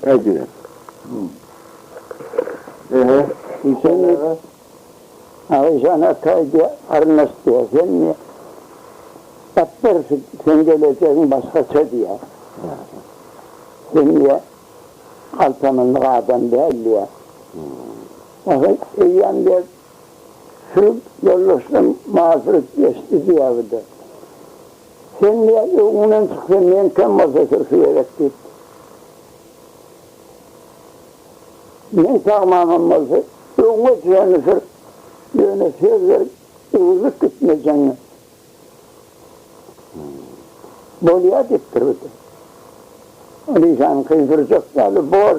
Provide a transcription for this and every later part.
Aýdyber. Ehe, işan aga. Aga işan aka aýdýar, arnaş diýýär. Sen diýýär, Gapbar, seň gelejegiň başgaça diýýär. Sen diýýär, galtamandyk adam däl diýýär. Aha, eýýäm diýýär, sürüp ýoldaşdan mazurit geçdi diýýär bu-da. Sen nä öňüňden çyksa, men kem bolsa sürsi gerek diýip. Men sagmanam bolsa, öňüňe düşeni sür, ýöne söz berip, öwrülip gitmejeň. Bolýar diýipdir bir de. Ony şanyňky sürjek däl, bor.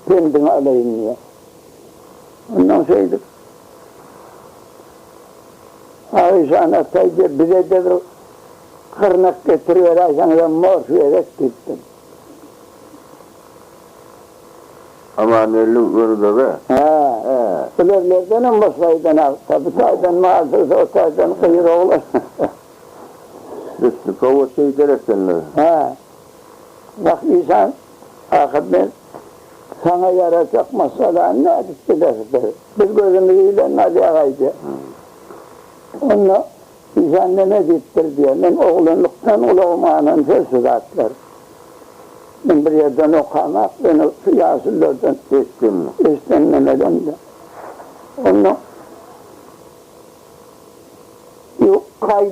pendiňi alaýyn diýýär. Ondan şeýdip, Aişan Ataý diýip, bize-de bir gyrnak getiriberäýseňizem morf gerek diýipdir. Amangeldi Gönübege? Hä. Hä. Ilerlerdenem boş gaýdan agta, bu taýdan mal döwse, o taýdan gyz oglan. Üsti powod eýder ekenler. Hä. Wah, işan. Ahyr men, Saňa ýarajak maşgalany nädip bileris? diýdim. Biz gözümizi ile Nadýagaý diýdim. Onda Işan neme diýipdir diýýän. Men oglanlykdan gulagyma anan şol şu zatlar. Men bir ýerden okamak, ýöne şu ýaşullardan eşitdim. Eşiden nemelemde. Onda Ýok, gaý.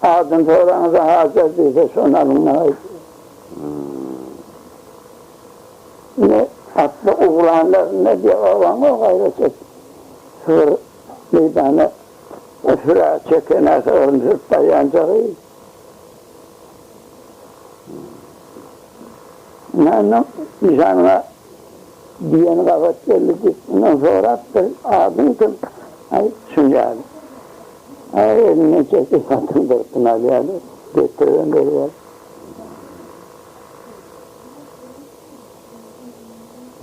Adyny soraňyzda Hajar diýse, şony alyň maňa aýdyň. Ine, atly oglanlar, ne diýýär, obaňa gaýrat et. Şu bir meýdana süre çeken aşygyny sürüp barýançagy. Näme, nyşanyňa. Diýen gabat geldi Dikdinden sorapdyr, Adyň kim? Aýt şunjaly. Aý, elinden çekip hatyny durkun alýarlar. Getiribem berýär.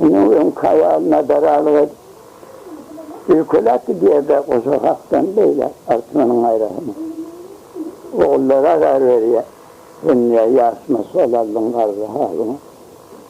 Indi öň kabal nadaralyk edip, öýkelap gidýär-de goşa hakdan beýle artmanyň gaýrasyna. Ogullary azar berýär. Sen niýe ýaşmyş bol aldyň garry halyňy?